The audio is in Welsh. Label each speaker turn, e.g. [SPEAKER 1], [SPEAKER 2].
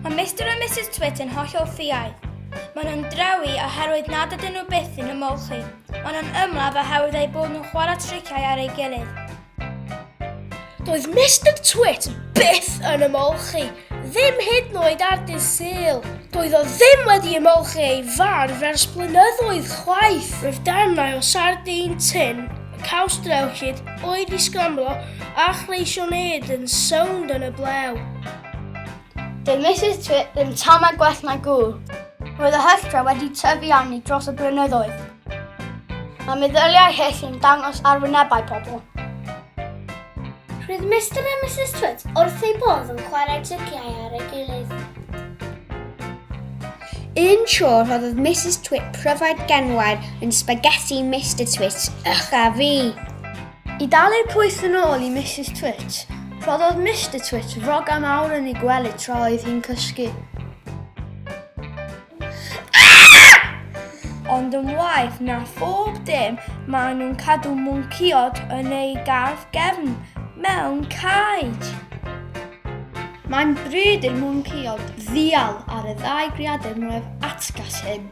[SPEAKER 1] Mae Mr a Mrs Twit yn hollol ffiaidd. Maen nhw'n drewi oherwydd nad ydyn nhw byth yn ymolchi. Maen nhw'n ymladd oherwydd eu bod nhw'n chwarae triciau ar ei gilydd. Doedd Mr Twit byth yn ymolchi, ddim hyd noed ar dydd syl. Doedd o ddim wedi ymolchi ei far fers blynyddoedd chwaith. Roedd darnau o sardin tin, caws drewllyd, oed i sgramlo a chreision ed yn sownd yn y blew. Doedd Mrs Twit ddim tam a gwell na gŵl. Roedd y hylltra wedi tyfu arni dros y blynyddoedd. Mae meddyliau hyll yn dangos ar wynebau pobl. Roedd Mr a Mrs Twit wrth ei bodd yn chwarae tryciau ar ei gilydd. Un tro rhoddodd Mrs Twit pryfed genwair yn spaghetti Mr Twit, ych a fi. I dalu'r pwyth yn ôl i Mrs Twit, rhoddodd Mr Twit roga mawr yn ei gwely tra oedd hi'n cysgu. Ond yn waeth na phob dim, maen nhw'n cadw mwncïod yn eu gardd gefn mewn caej. Mae'n bryd i'r mwncïod ddial ar y ddau greadur mwyaf atgas hyn.